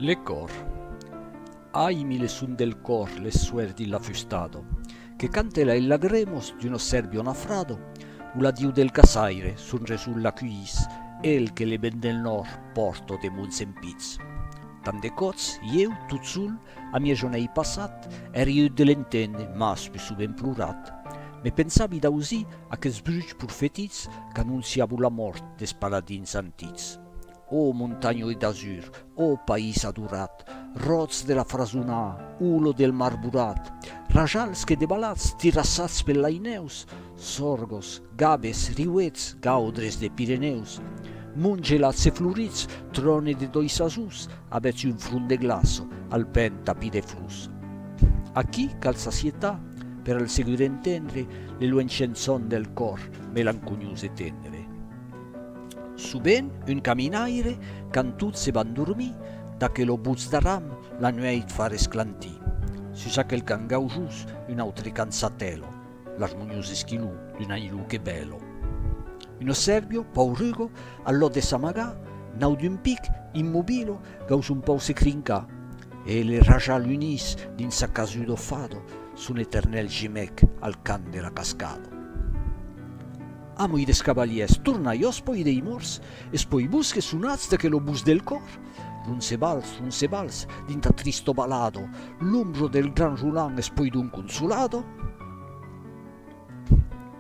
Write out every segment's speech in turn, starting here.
Le còr. Ahi mi le son del còr le suer di l'afustado, que cante la i lagremos d'uno serbio nafrado, u l'adiu del caçaire son reson l'acuís, el que le ben del nòrd pòrto de mons empits. Tant de còps, ieu, tot sol, a mia jonei passat, è riut de l'entendre, mas pus sovent plorat. Me pensavi d'ausir aqueths bruchs profetits qu'anonciavon la mòrt des paladins antics. Ò montanhoi d'azur, ò país adorat, Ròts de la Frasonà, Olor del Marborat, Rajals que debalatz, tirassatz pel Lainèus, Sorgos, Gabes, Riuets, Gaudres de Pirenèus, Monts gelats e florits, Tròne de dois azús, Avètz un front de glaço, Al pèn tapí de flors. Aquí cal s'asietar, Per al segur entendre, Le luenh chençon del còr, Melanconiós e tendre. Subent un caminaire, quand tot se van dormir, d'aquelo butz d'aram la nuèit fa resclantir. Sus aquel can gaujós, un autre can satèlo, l'armoniós esquiló d'un aniló que bèlo. Un ossèrbio, paurugo, al lòc de s'amagar, nau d'un pic, immobilo, gaus un pauc se crincar, e le rajal unís dins sa casudo fado son eternèl gemec al cant de la cascado. Amoi des cavalièrs tornaiós poi dei morts, es poi bus que sonatz de que lo bus del còr. Roncebals, roncebals, dins ta tristo balado, l'ombro del gran Roland es poi d'un consolado.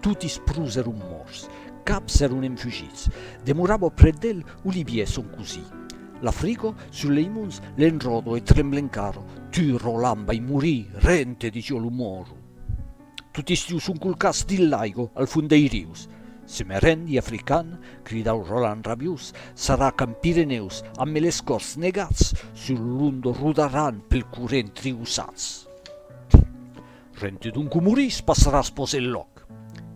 Toti es prus eron morts, cap s'eron enfugits, demorabo près d'el Olivier son cosí. L'afrigo sur lei monts l'enròdo e tremble encaro, tu Roland vai morir, rente, dixi jo lo moro. Tot estiu son colcats dins l'aigo, al fond dei rius. Se me rend i african, cridau Roland rabiós, sarà qu'en Pirenèus, amb meles còrs negats, sul lo londo rodaràn pel corrent triussats. Rente donc o morís, passaràs pòs el lòc.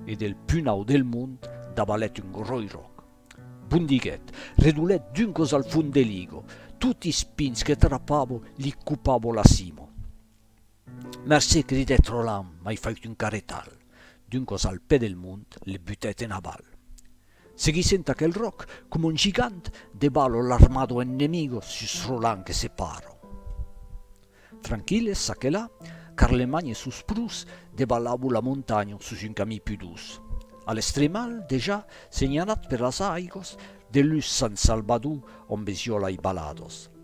E del punau del mond davalèt un gròi ròc. Bon diguèt, redolèt duncos al fond de l'igo, toti es pins que trapavo li copavo la cimo. Mercé, cridèt Roland, m'ai fait un carretal. Duncos al pè del mont le butèt en aval. Seguissent aquel ròc, coma un gigant, de ballo l'armado ennemigo sus Roland que se paro. Tranquilles, ça que là, Carlemagne e sos prus de balabo la montanho sus un camí pus duç. A l'estremal, dejà, senhalat per las aigos, de lus s'an salbadú ombes jolai balados.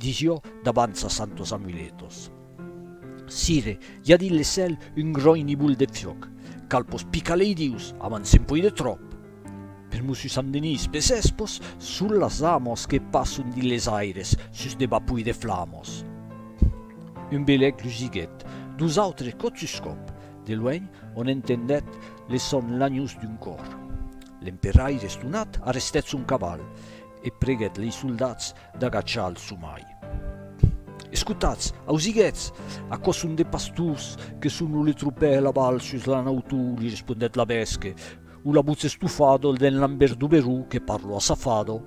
Disió davant sa santos amuletos. Sire, i a dins le cèl un gròin nivol de fiòc, cal pos picar lei dius, avan se'n poi de tròp! Per Mossu Sant Denís, pes espos, son las amos que passon dins les aires, sus de bapoi de flamos. Un belèc lusiguèt, dos autres còp sus còp, de luènh, on entendèt le sòn lanhós d'un còr. L'emperaire estonat arrestèt son caval, e preguèt lei soldats D'agachar al somai. Escotatz, ausiguetz, aquò son de pastors que son o le tropèr la val sus la nautor, li respondèt la bèsque, o la votz estofada o d'en Lambert Duberó que parlo assafada.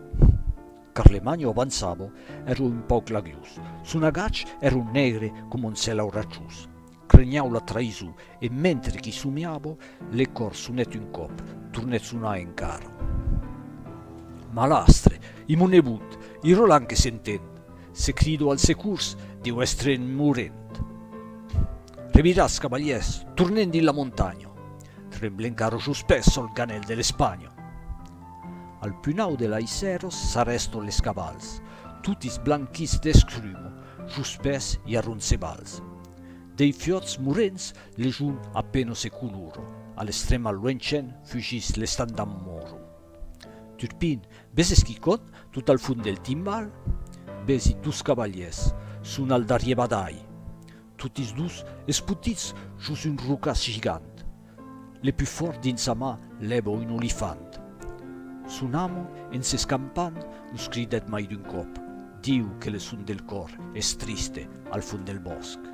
Carlemagno avançava, èra un pauc lagliós, son agach èra negre coma un cèl auratjós, Crenhau la traïson, e mentre qu'i somiava, le còr sonèt un còp, tornèt sonar encara. Malastre! I mon nebot! I Roland que s'entend! Se crido al securs, deu èstre en morent! Reviràtz, cavalièrs, tornem dins la montanha! Tremblen carros los pès sol ganhèl de l'Espanha! Al punau de l'Aissèros s'arrèston les cavals, totis blanquits d'escruma, jos pès i a Roncevals. Dei fiòts morents l'ejun a peno se coloro, a l'extrèm al luencen fugís l'estat damb moro. Turpin, ves esquicòt tot al fond del timbal? Vesi dos cavaliers, son al darrier badalh. Totis dos espotits jos un rocàs gigant. Le pus fòrt dins sa mà lèvo un olifant. Son amo, en s'escampant, los cridèt mai d'un còp. Diu que le son del còr es triste al fond del bòsc.